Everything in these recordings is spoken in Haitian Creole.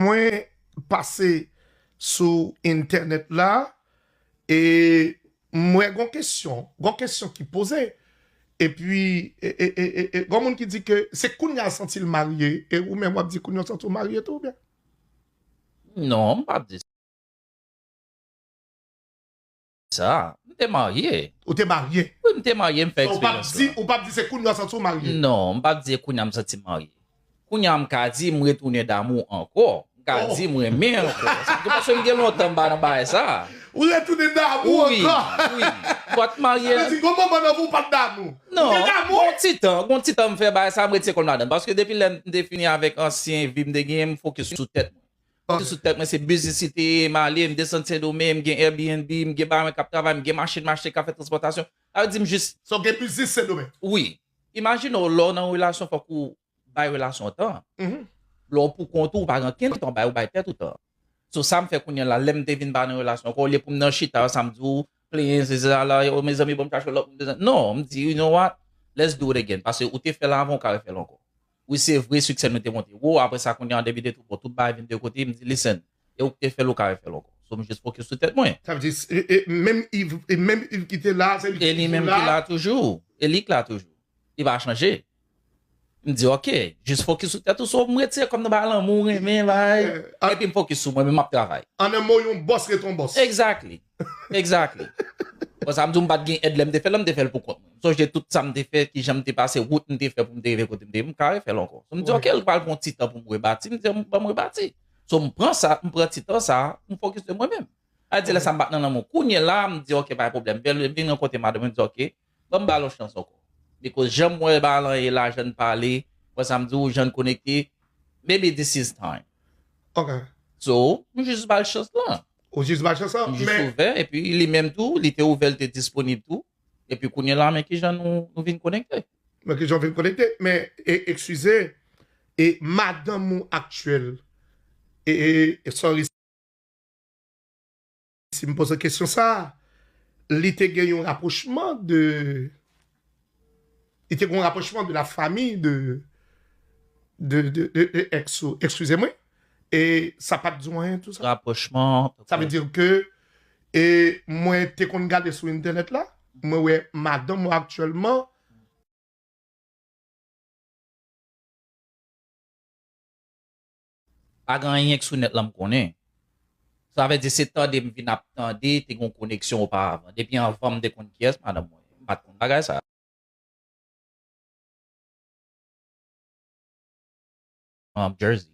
Mwen pase sou entènèt la e m wè gon kesyon, gon kesyon ki poze epi gon moun ki di ke se kounya l santi l marye e ou menm w ap di kounya w santi w marye tou oubyen? Non, m p ap di sa. Sa, m te marye. Ou te marye? Wi, m te marye, m fè eksperyans la. Ou pap di se kounya w santi w marye? Non, m pap di se kounya m santi m marye. Kounya m ka di m retounen damou ankò. M ka di m renmen ankò. Paske m gen lontan m pa nan bagay sa. Ou retounen damou ankò? Wi, wi. M pa t marye. Sa vle di gon moman nan vi w pa t damou? Non. Ou te damou? Gon ti tan, gon ti tan m fè bagay sa, m rete se kò m ladan l. Paske depi lè m te fini avèk ansyen vi m te genyen, m fokis sou tèt mwen. Pase sou tèt mwen se biznis li te ye, m ale, m desann Sendomeng, m gen Airbnb, m gen paran mwen k ap travay, m gen machin m achte k ap fè transpòtasyon. Sa vle di m jis. Sa w gen biznis Sendomeng? Wi. Imajine w lè w nan relasyon fòk ou bay relasyon an tan. Lè w poukont ou, ou pa gen okenn tan w bay, ou bay tèt ou tan. So sa m fè kounye an la, lè m te vin pa nan relasyon ankò, olye pou m nan chita yo sa m di w, plenyen sesi sa la, o mezanmi bon m chache lòt moun, non, m di you know what, let's do it again, pase ou te fè l avan ou ka refè l ankò. Wi se vre succès nou te monte wo aprè sa kounya an 2002 bon tout bagay vin de kote m di listen e ou k te fèl ou ka refèl ankò so m jis fokis sou tèt mwen. Sa vle di e menm iv e menm iv ki te la se li ki toujou la? E li menm ki la toujou e li k la toujou li pa chanje m di ok jis fokis sou tèt ou so m retire kòm nan bagay lanmou renmen bagay epi m fokis sou mwen menm m ap travay. An nan mo yon bòs ret yon bòs. Exactly. Exactly. Bon sa m di w m pat gen èd lè m te fè l lan m te fè l pou kont mwen. M sonje tout sa m te fè, kijan m te pase, wout m te fè pou m te rive kote m te ye m ka refè l ankò. M di ok l pral pran ti tan pou m rebati, m di ok ban m rebati. So m pran sa, m pran ti tan sa, m fokis de mwen menm. Aldi lè sa m pa t nan lanmou. Kounye la m di ok pa gen pwoblèm. M vin rankontre madanm m m di ok Banm bal yon chans ankò. Because janm wè Balan ye la jann pale wè sam diw jann konekte maybe this is time. Ok. So m jus bal chans lan. Ou jus bal chans lan men. M jus ouvè epi li menm tou li te ouvè li te disponib tou epi kounyela men kijan nou vin konekte. Men kijan nou vin konekte men ekskize e madanm ou aktyèl e sorry. Si m poze kesyon sa a, li te gen yon rapwochman de, li te gen yon rapwochman de la famille de, de, de, de, de ex ou, ekskize mwen, e sa pa t di w anyen tou sa? Rapwochman, ok. Sa vle di ke, e mwen te konn gade sou entènèt la, mwen wè madanm ou aktyèlman. Pa gen anyen k sou nèt lan m konnen. Sa vle di se tande m vin ap tande te gen yon koneksyon oparavan. Depi anvan m te konn kiyès madanm mwen ye. M pa t konn bagay sa. Jersey.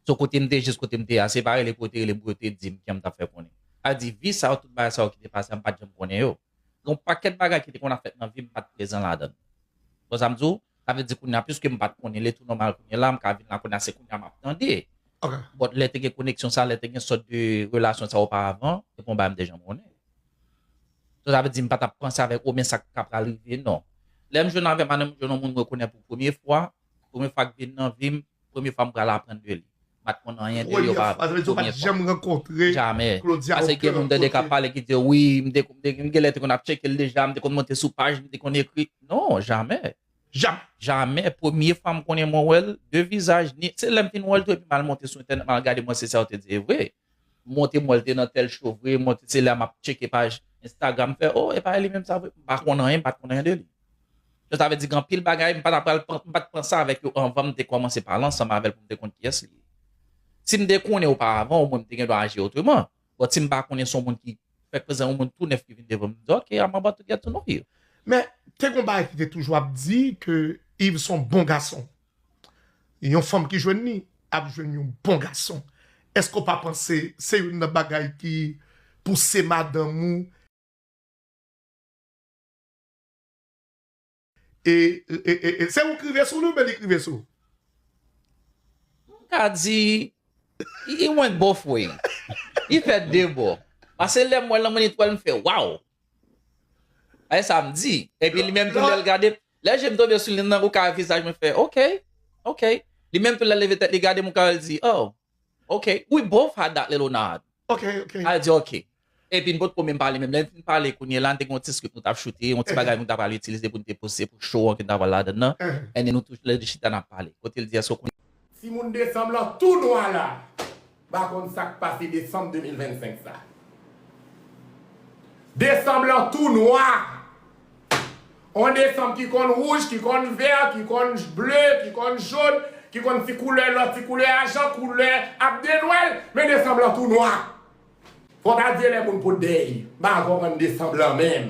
So kote m te jis kote m te a se pa rele pou yo te rele m pou yo te di m kiyè m t ap fè konnen. Sa vle di vi sa yo tout bagay sa yo ki te pase a m pa t janm konnen yo. Gen yon pakèt bagay ki te konn ap fèt nan vi m m pa t prezan ladan l. Ou konn sa m di w? Sa vle di kounye a piske m pa t konnen lè tou nòmal kounye la, m ka vin la kounye a se kounye a m ap tande. Bòt lè te gen koneksyon sa, lè te gen sòt de relasyon sa oparavan, se pa yon bagay m te janm konnen. So sa vle di m pa t ap panse avèk ou men sa k ka pral rive non. Lè m jwenn avè m a nan m jwenn yon moun m rekonèt pou premye fwa, Premye fwa k vin nan vim, premye fwa m pral aprann de li. M pat konn anyen de li oparavan. Premye fwa, sa vle di ou pat janm rankontre Claudia okenn kote? Jamè. Pase gen moun tande k ap pale ki di yo wi, m te konn, m genlè te konn ap tcheke l deja, m te konn monte sou paj, m te konn ekri. Non, jamè. Jamè? Jamè. Premye fwa m konnen mwen wè l, de vizaj ni, se lè m fin wè l tou epi m al monte sou entènèt m al gade m wè si sa yo te di e vre. Monte m wè l te nan tèl cho vre, monte se la map tcheke paj Instagram m fè oh epa li menm sa vre m pa konn anyen m pat konn anyen de li. Donk sa vle di gen anpil bagay m pa ta pral m pat pran sa avèk yo anvan m te kòmanse pale ansanm avèl pou m te konn kiyès li ye. Si m te konnen oparavan omwen m te gen dwa aji otreman but si m pa konnen se yon moun ki fèk prezan yon moun tou nèf ki vin devan m m di ok I'm about to get to know you. Men te gon bagay ki te toujou ap di ke Yves son bon gason. Yon fanm ki jwenn li ap jwenn yon bon gason eske ou pa panse se youn nan bagay ki pouse madanm ou e se ou k rive sou li oubyen li k rive sou. M ka di it went both way li fèt de bò pase lèm wèl nan monitrèl m fè waww Bagay sa m di. Epi li menm tou lè l gade m, lè je m tonbe sou li nan ou ka wè vizaj mwen fè ok, ok. Li menm tou lè l leve tèt li gade m ou ka wè l di oh ok, we both had that little nod. Ok, ok. Al di ok. Epi n potko menm pale menm. Lè n fin pale kounye la n te gen yon ti script nou t ap choute, yon ti bagay nou ta pral itilize pou n te poste pou show an ki ta pral ladann nan. And then nou tou lè de chita n ap pale. Kote l di èske w konn Timoun desanm lan tou nwa la pa konn sak pase desanm 2025 sa. Desanm lan tou nwa. On desanm ki konn wouj, ki konn vè, ki konn ble, ki konn jón, ki konn ti koulè lò, ti koulè ajan, koulè ap de nwèl, men desanm lan tou nwa. Fòk adye lè moun pot dèy, ba vò mòn desanm lan menm.